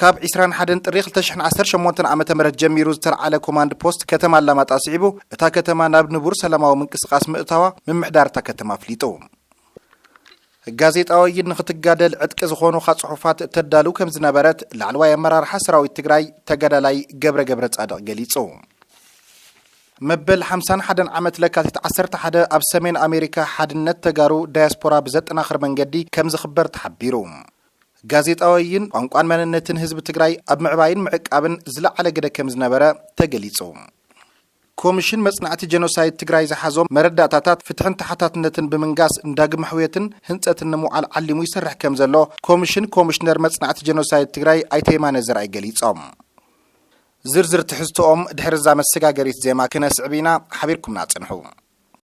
ካብ ዒስራን ሓደን ጥሪ ክልተ ሽሕን ዓሰርተ ሸሞንተን ዓመተ ምህረት ጀሚሩ ዝተልዓለ ኮማንድ ፖስት ከተማ ኣላማጣ ስዒቡ እታ ከተማ ናብ ንቡር ሰላማዊ ምንቅስቓስ ምእታዋ ምምሕዳር እታ ከተማ ኣፍሊጡ። ጋዜጣ ወይን ንክትጋደል ዕጥቂ ዝኾኑኻ ጽሑፋት ተዳሉ ከም ዝነበረት ላዕለዋይ ኣመራርሓ ሰራዊት ትግራይ ተጋዳላይ ገብረ ገብረ ጻድቕ ገሊጹ። መበል ሓምሳን ሓደን ዓመት ለካቲት ዓሰርተ ሓደ ኣብ ሰሜን ኣሜሪካ ሓድነት ተጋሩ ዳያስፖራ ብዘጠናኽር መንገዲ ከም ዝኽበር ተሓቢሩ። ጋዜጣወይን ቋንቋን መንነትን ህዝቢ ትግራይ ኣብ ምዕባይን ምዕቃብን ዝለዓለ ግደ ከምዝነበረ ተገሊፁ። ኮምሽን መፅናዕቲ ጀኖሳይድ ትግራይ ዝሓዞም መረዳእታታት ፍትሕን ተሓታትነትን ብምንጋስ ንዳግም ኣሕውየትን ህንፀትን ንምውዓል ዓሊሙ ይሰርሕ ከምዘሎ ኮምሽን ኮምሽነር መፅናዕቲ ጀኖሳይድ ትግራይ ኣይተ የማነ ዘርኣይ ገሊፆም። ዝርዝር ትሕዝቶኦም ድሕሪ እዛ መሰጋገሪት ዜማ ክነስዕብ ኢና፣ ሓቢርኩምና ፅንሑ።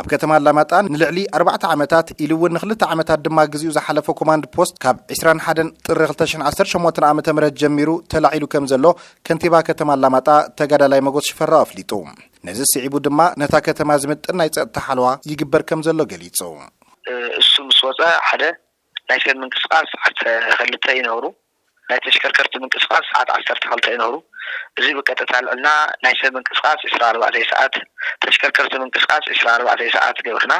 ኣብ ከተማ ኣላማጣ ንልዕሊ ኣርባዕተ ዓመታት ኢሉ እውን ንክልተ ዓመታት ድማ ግዚኡ ዝሓለፈ ኮማንድ ፖስት ካብ ዕስራን ሓደን ጥሪ ክልተ ሽሕን ዓሰርተ ሸሞንተን ዓመተ ምህረት ጀሚሩ ተላዒሉ ከም ዘሎ ከንቲባ ከተማ ኣላማጣ ተጋዳላይ መጎስ ሽፈራው ኣፍሊጡ። ነዚ ስዒቡ ድማ ነታ ከተማ ዝምጥን ናይ ፀጥታ ሓለዋ ይግበር ከም ዘሎ ገሊፁ። እሱ ምስ ወፀ ሓደ ናይ ሰብ ምንቅስቃስ ዓሰርተ ክልተ ይነብሩ ናይ ተሽከርከርቲ ምንቅስቓስ ሰዓት ዓሰርተ ክልተ እዩ ነሩ። እዚ ብቀጥታ ኣልዕልና ናይ ሰብ ምንቅስቓስ ዕስራ ኣርባዕተይ ሰዓት፣ ተሽከርከርቲ ምንቅስቓስ ዕስራ ኣርባዕተይ ሰዓት ገብርና።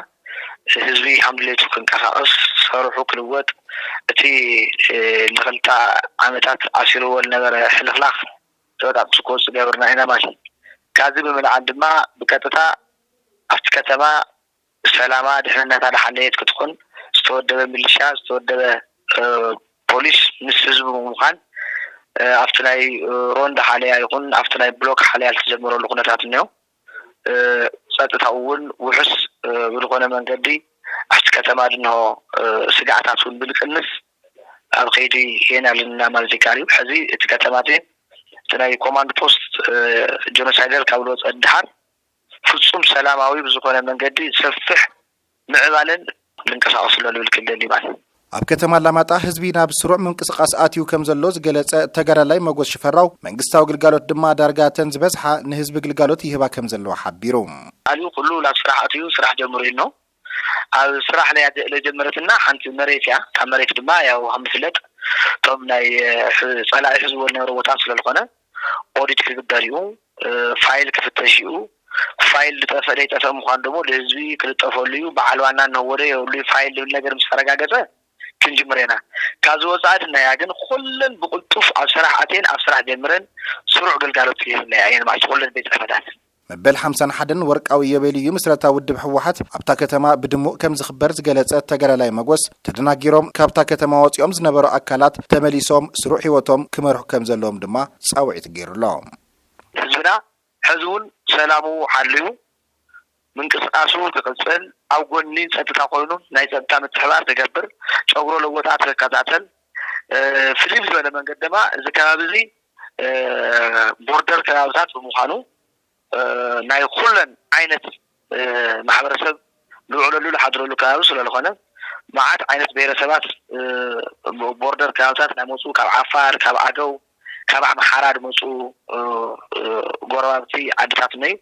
ህዝቢ ሃም ድሌቱ ክንቀሳቐስ፣ ሰሩሑ ክልወጥ፣ እቲ ንክልተ ዓመታት ኣሲሩዎ ልነበረ ሕልኽላኽ ተበጣጢሱ ክወጽእ ገብርና ኢና ማለት እዩ። ካብዚ ብምልዓል ድማ ብቀጥታ ኣብቲ ከተማ ሰላማ ድሕንነታ ዝሓለየት ክትኾን ዝተወደበ ምልሻ ዝተወደበ ፖሊስ ምስ ህዝቢ ብምዃን ኣብቲ ናይ ሮንድ ሓለያ ይኹን ኣብቲ ናይ ብሎክ ሓለያ ዝተጀመረሉ ኩነታት እኒኦ ፀጥታኡ እውን ውሑስ ብዝኾነ መንገዲ ኣብቲ ከተማ ድንሆ ስግኣታት እውን ብዝቅንስ ኣብ ከይዲ ሄን ኣለና ማለት ይከኣል እዩ ሕዚ እቲ ከተማ እቲ ናይ ኮማንድ ፖስት ጆኖሳይደር ካብ ዝወፀ ድሓር ፍፁም ሰላማዊ ብዝኾነ መንገዲ ሰፍሕ ምዕባለን ክንንቀሳቐስ ኣሎ ንብል ክልል ሊባን። ኣብ ከተማ ኣላማጣ ህዝቢ ናብ ስሩዕ ምንቅስቓስ ኣትዩ ከም ዘሎ ዝገለፀ ተጋዳላይ መጎስ ሽፈራው፣ መንግስታዊ ግልጋሎት ድማ ዳርጋ እተን ዝበዝሓ ንህዝቢ ግልጋሎት ይህባ ከም ዘለዋ ሓቢሩ። ኣልዩ ኩሉ ናብ ስራሕ ኣትዩ ስራሕ ጀምሩ ኢልኖ። ኣብ ስራሕ ናይ ኣደ ለጀመረትና ሓንቲ መሬት እያ እታ መሬት ድማ ያው ከምዝፍለጥ እቶም ናይ ፀላኢ ሕዝዎ ዝነበረ ቦታ ስለልኾነ ኦዲት ክግበር እዩ ፋይል ክፍተሽ እዩ ፋይል ልጠፈእ ለይጠፈእ ምዃን ደግሞ ልህዝቢ ክልጠፈሉ እዩ በዓል ዋና እንህወዶ የብሉ ፋይል ልብል ነገር ምስ ተረጋገፀ ክንጅምር ኢና ካብዚ ወፃኢ ድናያ ግን ኩለን ብቕልጡፍ ኣብ ስራሕ ኣትየን ኣብ ስራሕ ጀምረን ስሩዕ ግልጋሎት ይህብናያ እየን ማለት ኩለን ቤት ፅሕፈታት መበል ሓምሳን ሓደን ወርቃዊ ኢዮቤልዩ ምስረታ ውድብ ህወሓት ኣብታ ከተማ ብድሙቕ ከም ዝኽበር ዝገለጸ ተጋዳላይ መጎስ፣ ተደናጊሮም ካብታ ከተማ ወጺኦም ዝነበሩ ኣካላት ተመሊሶም ስሩዕ ህይወቶም ክመርሑ ከም ዘለዎም ድማ ጻውዒት ገይሩሎም። ህዝብና ሕዚ'ውን ሰላሙ ሓልዩ ምንቅስቓሱ ክቕጽል፣ ኣብ ጎኒ ጸጥታ ኮይኑ ናይ ጸጥታ ምትሕብባር ክገብር፣ ጨጉሮ ለወጣ ክከታተል፣ ፍልይ ብዝበለ መንገዲ ድማ እዚ ከባቢ'ዚ ቦርደር ከባብታት ብምዃኑ ናይ ኹለን ዓይነት ማሕበረሰብ ልውዕለሉ ልሓድረሉ ከባቢ ስለልኾነ መዓት ዓይነት ብሄረሰባት ቦርደር ከባብታት ናመፁ ካብ ዓፋር ካብ ኣገው ካብ ኣምሓራ ድመፁ ጎረባብቲ ዓድታት እነዩ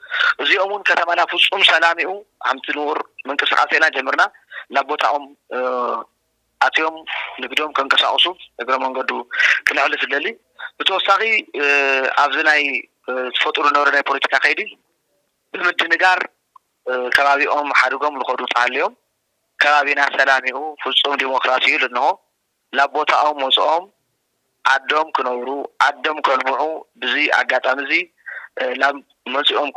እዚኦም እውን ከተማና ፍፁም ሰላም እዩ ሓምቲ ንኡር ምንቅስቃሴና ጀምርና ናብ ቦታኦም ኣትዮም ንግዶም ከንቀሳቕሱ እግረ መንገዱ ክነዕልት እደሊ። ብተወሳኺ ኣብዚ ናይ ተፈጥሩ ዝነበረ ናይ ፖለቲካ ከይዲ ብምድንጋር ከባቢኦም ሓድጎም ልኸዱ ተሃልዮም ከባቢና ሰላም ዩ ፍፁም ዲሞክራሲ ዩ ልንሆ ላብ ቦታኦም ወፅኦም ዓዶም ክነብሩ ዓዶም ከልምዑ ብዚ ኣጋጣሚ እዚ ላብ መፅኦም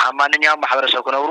ሃማንኛም ማሕበረሰብ ክነብሩ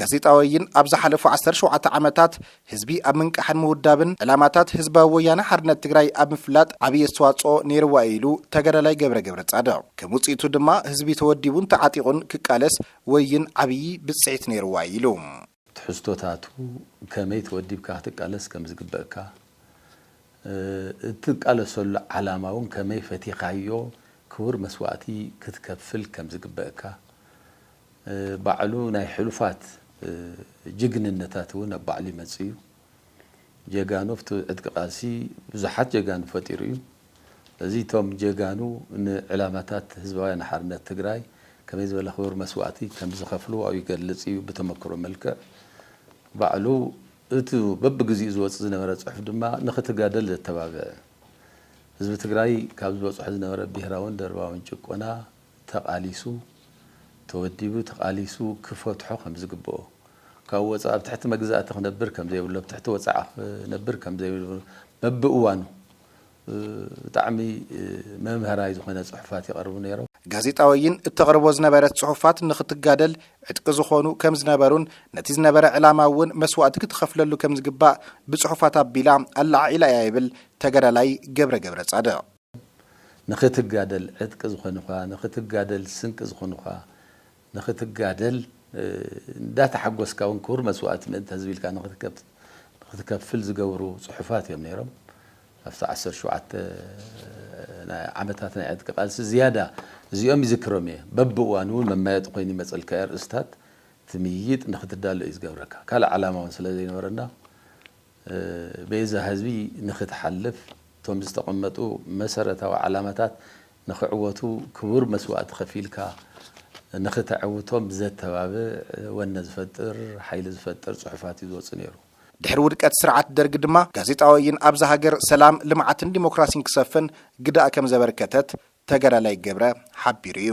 ጋዜጣ ወይን ኣብ ዝሓለፉ ዓሰርተ ሸውዓተ ዓመታት ህዝቢ ኣብ ምንቃሕን ምውዳብን ዕላማታት ህዝባዊ ወያነ ሓርነት ትግራይ ኣብ ምፍላጥ ዓብዪ ኣስተዋፅኦ ነይርዋ እዩ ኢሉ ተጋዳላይ ገብረ ገብረፃድቕ። ከም ውፅኢቱ ድማ ህዝቢ ተወዲቡን ተዓጢቑን ክቃለስ ወይን ዓብዪ ብፅሒት ነይርዋ እዩ ኢሉ። ትሕዝቶታቱ ከመይ ተወዲብካ ክትቃለስ ከም ዝግበእካ፣ እትቃለሰሉ ዓላማ እውን ከመይ ፈቲኻዮ ክቡር መስዋእቲ ክትከፍል ከም ዝግበእካ፣ ባዕሉ ናይ ሕሉፋት ጅግንነታት እውን ኣብ ባዕሉ ይመጽእ እዩ። ጀጋኑ ኣብቲ ዕጥቂ ቃልሲ ብዙሓት ጀጋኑ ፈጢሩ እዩ። እዚ እቶም ጀጋኑ ንዕላማታት ህዝባውያን ሓርነት ትግራይ ከመይ ዝበለ ክቡር መስዋእቲ ከምዝኸፍሉ ኣብኡ ይገልጽ እዩ ብተመክሮ መልክዕ። ባዕሉ እቲ በብግዚኡ ዝወጽእ ዝነበረ ጽሑፍ ድማ ንኽትጋደል ዘተባብዕ ህዝቢ ትግራይ ካብ ዝበጽሖ ዝነበረ ብሄራውን ደርባውን ጭቆና ተቓሊሱ ተወዲቡ ተቓሊሱ ክፈትሖ ከም ዝግበኦ ካብኡ ወፃኢ ኣብ ትሕቲ መግዛእቲ ክነብር ከም ዘይብሉ ኣብ ትሕቲ ወፃዓ ክነብር ከም ዘይብሉ በብእዋኑ ብጣዕሚ መምሀራይ ዝኾነ ፅሑፋት ይቐርቡ ነይሮም። ጋዜጣ ወይን እተቕርቦ ዝነበረት ፅሑፋት ንኽትጋደል ዕጥቂ ዝኾኑ ከም ዝነበሩን ነቲ ዝነበረ ዕላማ እውን መስዋእቲ ክትኸፍለሉ ከም ዝግባእ ብፅሑፋት ኣቢላ ኣለዓዒላ እያ ይብል ተጋዳላይ ገብረ ገብረፃድቕ። ንኽትጋደል ዕጥቂ ዝኾኑኻ፣ ንኽትጋደል ስንቂ ዝኾኑኻ፣ ንኽትጋደል እንዳተሓጎስካ ውን ክቡር መስዋእቲ ምእንተ ህዝቢ ኢልካ ንኽትከፍል ዝገብሩ ጽሑፋት እዮም ነይሮም። ኣብቲ ዓሰርተ ሸውዓተ ዓመታት ናይ ዕጥቂ ቃልሲ ዝያዳ እዚኦም ይዝክሮም እየ። በብእዋኑ ውን መማየጢ ኮይኑ ይመጸልካ እዩ፣ ኣርእስታት ትምይይጥ ንኽትዳሎ እዩ ዝገብረካ። ካልእ ዓላማ ውን ስለዘይነበረና ቤዛ ህዝቢ ንኽትሓልፍ እቶም ዝተቐመጡ መሰረታዊ ዓላማታት ንኽዕወቱ ክቡር መስዋእቲ ከፊልካ ንኽተዐውቶም ዘተባብዕ፣ ወነ ዝፈጥር፣ ሓይሊ ዝፈጥር ፅሑፋት እዩ ዝወፅእ ነይሩ። ድሕሪ ውድቀት ስርዓት ደርግ ድማ ጋዜጣ ወይን ኣብዛ ሃገር ሰላም፣ ልምዓትን ዲሞክራሲን ክሰፍን ግደ ከምዘበርከተት ተጋዳላይ ገብረ ሓቢሩ እዩ።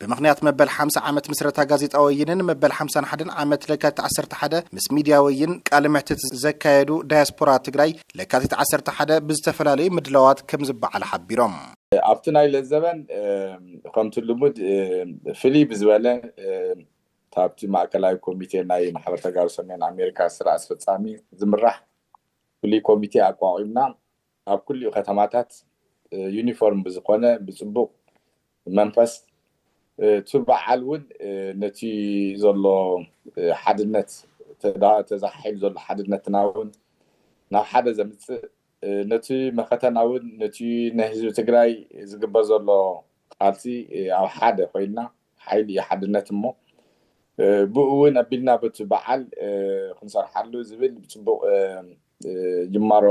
ብምኽንያት መበል ሓምሳ ዓመት ምስረታ ጋዜጣ ወይንን መበል ሓምሳን ሓደን ዓመት ለካቲት ዓሰርተ ሓደ ምስ ሚድያ ወይን ቃለ መሕትት ዘካየዱ ዳያስፖራ ትግራይ ለካቲት ዓሰርተ ሓደ ብዝተፈላለዩ ምድላዋት ከምዝበዓል ሓቢሮም። ኣብቲ ናይ ለዘበን ከምቲ ልሙድ ፍልይ ብዝበለ ካብቲ ማእከላይ ኮሚቴ ናይ ማሕበር ተጋሩ ሰሜን ኣሜሪካ ስራ ኣስፈፃሚ ዝምራሕ ፍሉይ ኮሚቴ ኣቋቒምና ኣብ ኩሊኡ ከተማታት ዩኒፎርም ብዝኾነ ብጽቡቕ መንፈስ እቱ በዓል እውን ነቲ ዘሎ ሓድነት ተዘሓሒሉ ዘሎ ሓድነትና እውን ናብ ሓደ ዘምጽእ ነቲ መኸተና እውን ነቲ ናይ ህዝቢ ትግራይ ዝግበር ዘሎ ቃልሲ ኣብ ሓደ ኮይንና ሓይሊ እዩ ሓድነት እሞ ብኡ እውን ኣቢልና በቲ በዓል ክንሰርሓሉ ዝብል ብፅቡቕ ጅማሮ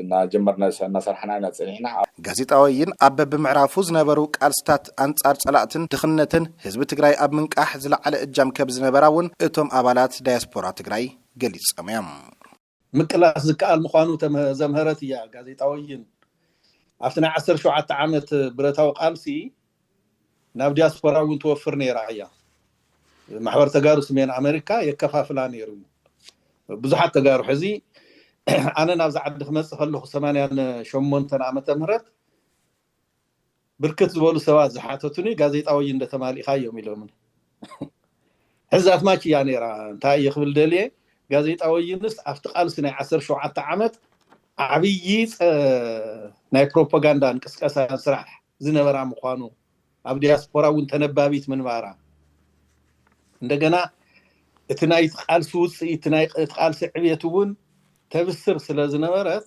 እናጀመርና እናሰራሕና ኢና ፀኒሕና። ጋዜጣ ወይን ኣብ በቢምዕራፉ ዝነበሩ ቃልስታት ኣንፃር ፀላእትን ድኽነትን ህዝቢ ትግራይ ኣብ ምንቃሕ ዝለዓለ እጃም ከብዝነበራ እውን እቶም ኣባላት ዳያስፖራ ትግራይ ገሊፆም እዮም። ምቅላስ ዝከኣል ምዃኑ ዘምሀረት እያ ጋዜጣ ወይን። ኣብቲ ናይ ዓሰርተ ሸውዓተ ዓመት ብረታዊ ቃልሲ ናብ ዲያስፖራ እውን ትወፍር ነይራ እያ። ማሕበር ተጋሩ ስሜን ኣመሪካ የከፋፍላ ነይሩ እዩ። ብዙሓት ተጋሩ ሕዚ ኣነ ናብዚ ዓዲ ክመፅእ ከለኹ ሰማንያን ሸሞንተን ዓመተ ምህረት ብርክት ዝበሉ ሰባት ዝሓተቱኒ ጋዜጣ ወይን ዶ ተማሊእካዮም ኢሎምኒ። ሕዚ ኣትማች እያ ነይራ። እንታይ እየ ክብል ደልየ፣ ጋዜጣ ወይንስ ኣብቲ ቃልሲ ናይ ዓሰርተ ሸውዓተ ዓመት ዓብዪ ናይ ፕሮፓጋንዳን ቅስቀሳን ስራሕ ዝነበራ ምዃኑ፣ ኣብ ዲያስፖራ እውን ተነባቢት ምንባራ፣ እንደገና እቲ ናይቲ ቃልሲ ውፅኢት፣ እቲ ናይቲ ቃልሲ ዕብየት እውን ተብስር ስለ ዝነበረት፣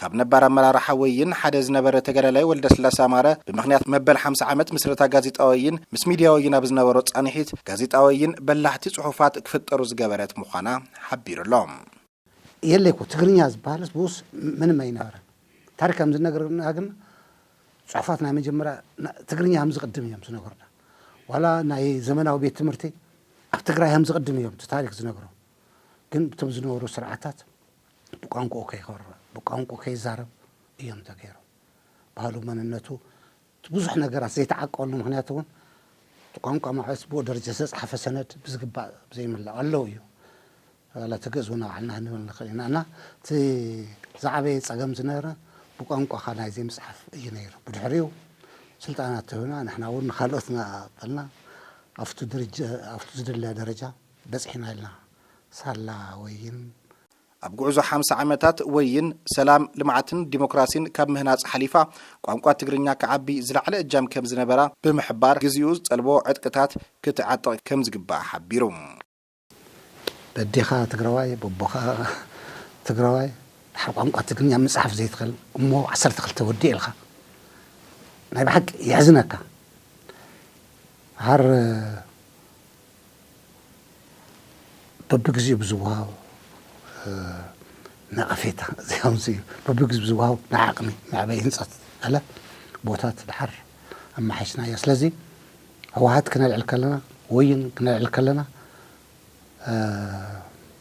ካብ ነባር ኣመራርሓ ወይን ሓደ ዝነበረ ተጋዳላይ ወልደስላሰ ኣማረ ብምኽንያት መበል ሓምሳ ዓመት ምስረታ ጋዜጣ ወይን ምስ ሚድያ ወይን ኣብ ዝነበሮ ፃንሒት ጋዜጣ ወይን በላሕቲ ፅሑፋት ክፍጠሩ ዝገበረት ምዃና ሓቢሩ ኣሎ። የለ እኮ ትግርኛ ዝበሃልስ ብኡስ ምንም ኣይነበረን ታሪክ ከም ዝነገረና ግን ፅሑፋት ናይ መጀመርያ ትግርኛ ከም ዝቅድም እዮም ዝነገሩና ዋላ ናይ ዘመናዊ ቤት ትምህርቲ ኣብ ትግራይ ከም ዝቅድም እዮም እቲ ታሪክ ዝነግሮ ግን ብቶም ዝነበሩ ስርዓታት ብቋንቁኡ ከይኮርዕ ብቋንቁኡ ከይዛረብ እዮም ተገይሮም ባህሉ መንነቱ እቲ ብዙሕ ነገራት ዘይተዓቀበሉ ምክንያት እውን እቲ ቋንቋ ማዕበስ ብኡ ደረጃ ዝተፅሓፈ ሰነድ ብዝግባእ ዘይምላእ ኣለዉ እዩ ዋላ እቲ ግእዝ እውን ኣብ ዓልና ክንብል ንኽእል ኢና እና እቲ ዝዓበየ ፀገም ዝነበረ ብቋንቋኻ ናይ ዘይምፅሓፍ እዩ ነይሩ ብድሕሪኡ ስልጠና ተህብና ንሕና እውን ንካልኦት እናቐበልና ኣብቲ ደረጃ ኣብቲ ዝድለ ደረጃ በፂሕና ኢልና ሳላ ወይን፣ ኣብ ጉዕዞ ሓምሳ ዓመታት ወይን፣ ሰላም፣ ልምዓትን ዲሞክራሲን ካብ ምህናፅ ሓሊፋ ቋንቋ ትግርኛ ክዓቢ ዝለዓለ እጃም ከምዝነበራ ብምሕባር፣ ግዚኡ ዝጠልቦ ዕጥቅታት ክትዓጥቕ ከምዝግባእ ሓቢሩ። በዴኻ ትግራዋይ በቦኻ ትግራዋይ ድሓር ቋንቋ ትግርኛ ምፅሓፍ ዘይትኽእል እሞ ዓሰርተ ክልተ ወዲእ ኢልኻ ናይ ብሓቂ የሕዝነካ ድሓር በብግዚኡ ብዝወሃቦ ነቐፌታ ዘየምጽእ እዩ። በብግዚኡ ብዝወሃቦ ናይ ዓቕሚ መዕበዪ ህንጸት ገለ ቦታት ደሓር ኣመሓይሽናዮ። ስለዚ ህወሓት ክነልዕል ከለና፣ ወይን ክነልዕል ከለና፣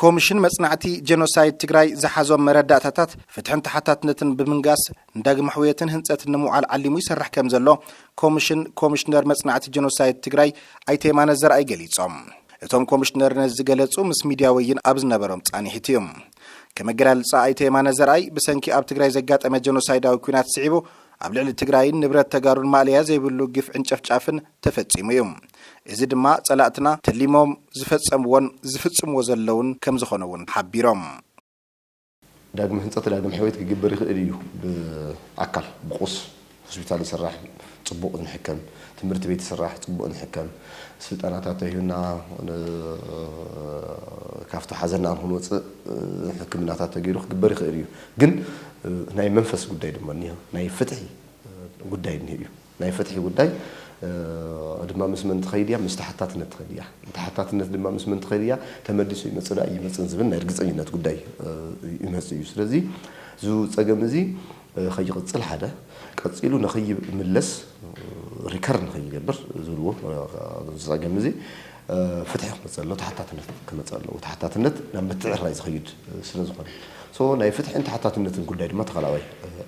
ኮምሽን መፅናዕቲ ጀኖሳይድ ትግራይ ዝሓዞም መረዳእታታት ፍትሕን ተሓታትነትን ብምንጋስ ንዳግመ ሕውየትን ህንፀትን ንምውዓል ዓሊሙ ይሰርሕ ከምዘሎ ኮምሽን ኮምሽነር መፅናዕቲ ጀኖሳይድ ትግራይ ኣይተ የማነ ዘርኣይ ገሊፆም። እቶም ኮምሽነር ነዚ ዝገለፁ ምስ ሚድያ ወይን ኣብ ዝነበሮም ፃኒሒት እዩ። ከም ኣገላልፃ ኣይተ የማነ ዘርኣይ ብሰንኪ ኣብ ትግራይ ዘጋጠመ ጀኖሳይዳዊ ኲናት ስዒቡ ኣብ ልዕሊ ትግራይን ንብረት ተጋሩን ማእለያ ዘይብሉ ግፍዕን ጨፍጫፍን ተፈጺሙ እዩ። እዚ ድማ ጸላእትና ተሊሞም ዝፈጸምዎን ዝፍጽምዎ ዘለውን ከምዝኾነ እውን ሓቢሮም። ዳግመ ህንፀት ዳግመ ሕውየት ክግበር ይኽእል እዩ ብኣካል ብቁስ ሆስፒታል ይስራሕ ፅቡቅ ንሕከም ትምህርት ቤት ይስራሕ ፅቡቅ ንሕከም ስልጠናታት ተሂብና ካብቲ ሓዘና ክንወፅእ ሕክምናታት ተገይሩ ክግበር ይኽእል እዩ ግን ናይ መንፈስ ጉዳይ ድማ እኒሀ ናይ ፍትሒ ጉዳይ እኒሀ እዩ ናይ ፍትሒ ጉዳይ ድማ ምስ መን ትኸይድ እያ? ምስ ተሓታትነት ትኸይድ እያ። ተሓታትነት ድማ ምስ መን ትኸይድ እያ? ተመሊሱ ይመጽእ ዶ ኣይመጽእን ዝብል ናይ ርግጸኝነት ጉዳይ ይመጽእ እዩ። ስለዚ እዚ ጸገም እዚ ከይቕጽል ሓደ፣ ቀጺሉ ንኸይምለስ ሪከር ንኸይገብር ዝብልዎ እዚ ጸገም እዚ ፍትሒ ክመጽእ ኣለዎ፣ ተሓታትነት ክመጽእ ኣለዎ። ተሓታትነት ናብ ምትዕርራይ ዝኸይድ ስለዝኾነ። ሶ ናይ ፍትሕን ተሓታትነትን ጉዳይ ድማ ተኸላዋይ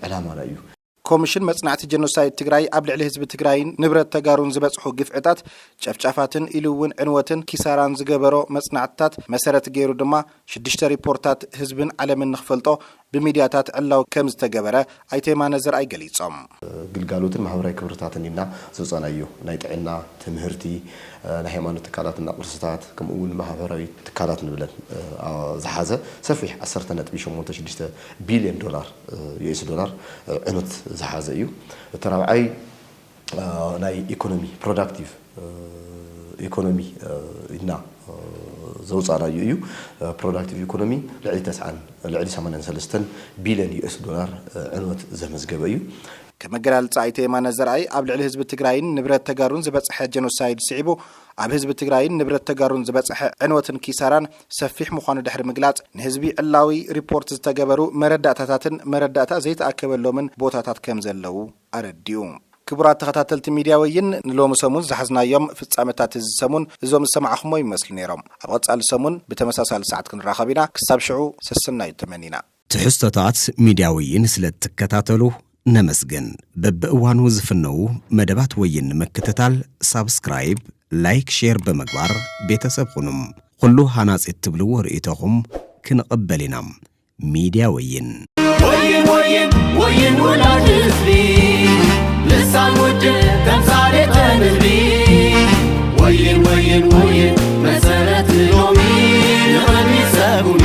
ዕላማና እዩ። ኮምሽን መፅናዕቲ ጀኖሳይድ ትግራይ ኣብ ልዕሊ ህዝቢ ትግራይን ንብረት ተጋሩን ዝበፅሑ ግፍዕታት፣ ጨፍጫፋትን ኢሉ እውን ዕንወትን ኪሳራን ዝገበሮ መፅናዕትታት መሰረት ገይሩ ድማ ሽዱሽተ ሪፖርታት ህዝብን ዓለምን ንኽፈልጦ ብሚድያታት ዕላዊ ከምዝተገበረ ኣይተ የማነ ዘርኣይ ገሊፆም። ግልጋሎትን ማህበራዊ ክብርታትን ኢልና ዘውፃእናዮ ናይ ጥዕና፣ ትምህርቲ፣ ናይ ሃይማኖት ትካላት እና ቅርስታት ከምኡ እውን ማህበራዊ ትካላት ንብለን ዝሓዘ ሰፊሕ ዓሰርተ ነጥቢ ሸሞንተ ሽዱሽተ ቢልዮን ዶላር ዩኤስ ዶላር ዕኑት ዝሓዘ እዩ። እቲ ራብዓይ ናይ ኢኮኖሚ ፕሮዳክቲቭ ኢኮኖሚ ኢልና ዘውፃእናዩ እዩ። ፕሮዳክቲቭ ኢኮኖሚ ልዕሊ ተስዓን ልዕሊ ሰማንያን ሰለስተን ቢልዮን ዩኤስ ዶላር ዕንወት ዘመዝገበ እዩ። ከም ኣገላልፃ ኣይተ የማነ ዘርኣይ ኣብ ልዕሊ ህዝቢ ትግራይን ንብረት ተጋሩን ዝበፀሐ ጀኖሳይድ ስዒቡ ኣብ ህዝቢ ትግራይን ንብረት ተጋሩን ዝበፀሐ ዕንወትን ኪሳራን ሰፊሕ ምዃኑ ድሕሪ ምግላፅ፣ ንህዝቢ ዕላዊ ሪፖርት ዝተገበሩ መረዳእታታትን መረዳእታ ዘይተኣከበሎምን ቦታታት ከምዘለዉ ኣረዲኡ። ክቡራት ተኸታተልቲ ሚድያ ወይን ንሎሚ ሰሙን ዝሓዝናዮም ፍፃመታት እዚ ሰሙን እዞም ዝሰማዕኹሞም ይመስሉ ነይሮም። ኣብ ቐፃሊ ሰሙን ብተመሳሳሊ ሰዓት ክንራኸብ ኢና። ክሳብ ሽዑ ሰሰናዩ ተመኒና። ትሕዝቶታት ሚድያ ወይን ስለ እትከታተሉ ነመስግን። በብእዋኑ ዝፍነዉ መደባት ወይን ንምክትታል ሳብስክራይብ፣ ላይክ፣ ሼር ብምግባር ቤተሰብ ኹኑም። ኹሉ ሃናፂ እትብልዎ ርእይቶኹም ክንቕበል ኢና። ሚድያ ወይን! ወይን ወይን ወይን ውላድ ህዝቢ ልሳን ውድብ ተምሳሌት ንህቢ ወይን ወይን ወይን መሰረት ሎሚ ንቅድሚት ሰጉሚ